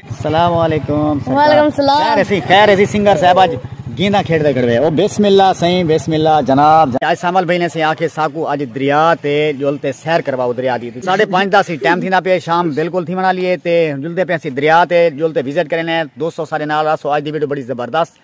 سلام علیکم وعلیکم سلام خیر ایسی خیر ایسی سنگر صاحب اج گیندا کھیڑ دے کھڑوے او بسم اللہ سائیں بسم اللہ جناب اج سامل بھائی نے سے آکھے ساکو اج دریا تے جل تے سیر کرواؤ دریا دی ساڑھے پانچ دا سی ٹائم تھینا پے شام بالکل تھی منا لیے تے جل دے پے سی دریا تے جل تے وزٹ کرنے دوستو سارے نال راسو اج دی ویڈیو بڑی زبردست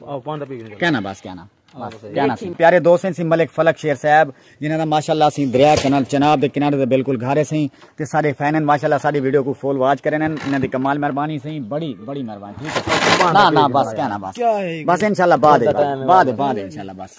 کہنا بس کہنا پیارے دوست ہیں سی ملک فلک شیر صاحب جنہاں دا ماشاءاللہ سی دریا کنال چناب دے کنارے دے بالکل گھارے سیں تے سارے فین ہیں ماشاءاللہ ساری ویڈیو کو فول واچ کرن ہیں انہاں دی کمال مہربانی سیں بڑی بڑی مہربانی ٹھیک ہے نا نا بس کہنا بس بس انشاءاللہ بعد بعد بعد انشاءاللہ بس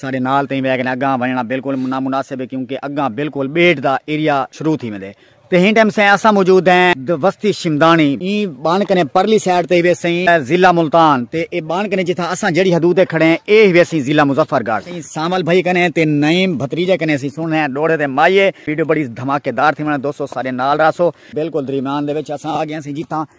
ساڈے نال تئیں ویگن اگاں ونجنڑاں بالکل نامناسب ہے کیونکہ اگاں بالکل بیٹ دا ایریا شروع تھی ویندے تے ہن ٹائم سئیں اساں موجود ہیں د وستی شمدانی ایں بن کنیں پرلی سائیڈ تئیں وے سئیں ضلع ملتان تے اے بن کنیں جتھاں اساں جیڑھی حدود تے کھڑے ہیں اے ہی ویسی ضلع مظفر گڑھ سئیں سانول بھائی کنیں تے نعیم بھتریجے کنیں اسیں سن ہیں ڈوڑھے تے مائیے ویڈیو بڑی دھماکے دار تھیونڑ دوستو ساڈے نال رہسو۔ بالکل دریمیان دے وچ اساں آ گئے ہیں سئیں جتھاں۔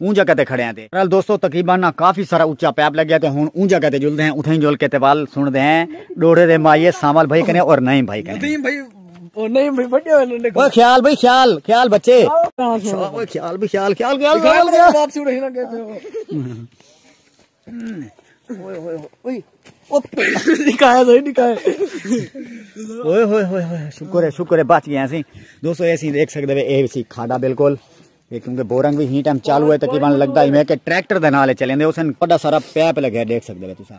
اوں جگہ تے کھڑے ہیں تے بہرحال دوستو تقریبا نا کافی سارا اچا پیپ لگ گیا تے ہن اوں جگہ تے جلدے ہیں اتھائیں جل کے تے ول سن دے ہیں ڈوڑے دے مائیے سانول بھائی کنے اور نعیم بھائی کنے نعیم بھائی اور نعیم بھائی بڑے ہوئے نے اوے خیال بھائی خیال خیال بچے اوے خیال بھائی خیال خیال خیال خیال واپسی اڑے نہ گئے شکر ہے شکر ہے بچ گیا سی دوستو اے سی دیکھ سکدے وے اے سی کھاڈا بالکل یہ کیونکہ بورنگ بھی ہی ٹائم چالو ہے تقریبا لگدا ہی میں کہ ٹریکٹر دے نال چلیں دے اسن بڑا سارا پیپ لگا دیکھ سکدے وے تساں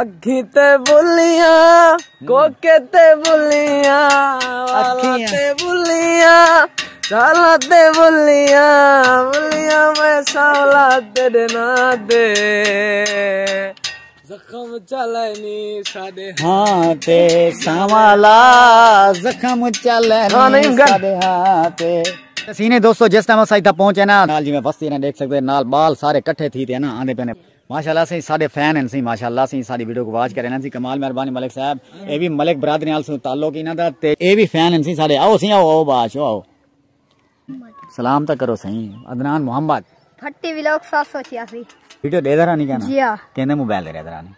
اکھیں تے بلیاں کوکے تے بلیاں والاں تے بلیاں چالاں تے بلیاں بلیاں میں ساولا تیرے نا دے زخم چلنی ساڈے ہاں تے ساوالا زخم چلنی ساڈے ہاں تے سینے دوستو جس ٹائم اسا ایتھا پہنچے نا نال جی میں بستی نا دیکھ سکتے نال بال سارے کٹھے تھی تے نا آندے پنے ماشاءاللہ سئیں ساڈے فین ہن سئیں ماشاءاللہ سئیں ساڈی ویڈیو کوں واچ کرین ہن سئیں کمال مہربانی ملک صاحب اے وی ملک برادری نال سوں تعلق انہاں دا تے اے وی فین ہن سئیں ساڈے آؤ سئیں آؤ آؤ باش آؤ سلام تک کرو سائیں عدنان محمد پھٹی ویلوک سات سو چھیاسی ویڈیو دے درانی کہنا جی ہاں کہندے موبائل دے درانی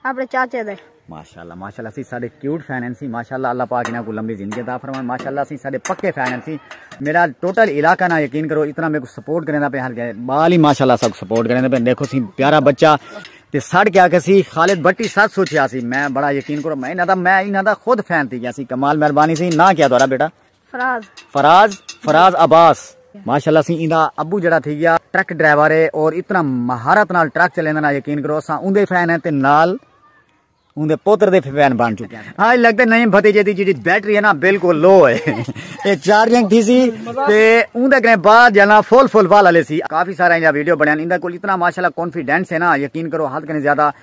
اپنے چاچے دے ماشاءاللہ ماشاءاللہ سی سارے کیوٹ فین ہیں سی ماشاءاللہ اللہ پاک انہاں کو لمبی زندگی عطا فرمائے ماشاءاللہ سی سارے پکے فین ہیں سی میرا ٹوٹل علاقہ نہ یقین کرو اتنا میرے کو سپورٹ کرنا پہ ہر گئے بال ہی ماشاءاللہ سب سپورٹ کرنا پہ دیکھو سی پیارا بچہ تے سڑ کیا کہ سی خالد بٹی سر سوچیا سی میں بڑا یقین کرو میں انہاں دا میں انہاں دا خود فین تھی گیا سی کمال مہربانی سی نہ کیا دوارا بیٹا فراز فراز فراز عباس ماشاءاللہ سی ایندا ابو جڑا تھی گیا ٹرک ڈرائیور ہے اور اتنا مہارت نال ٹرک چلیندا نا یقین کرو اساں اوندے فین ہیں تے نال اوندے پوتر دے فین بن چکے ہیں ہاں لگدا نہیں بھتیجے دی جڑی بیٹری ہے نا بالکل لو ہے اے چارجنگ تھی سی تے اوندا کنے بعد جانا فل فل والا لے سی کافی سارا ایندا ویڈیو بنیا ایندا کول اتنا ماشاءاللہ کانفیڈنس ہے نا یقین کرو حد کنے زیادہ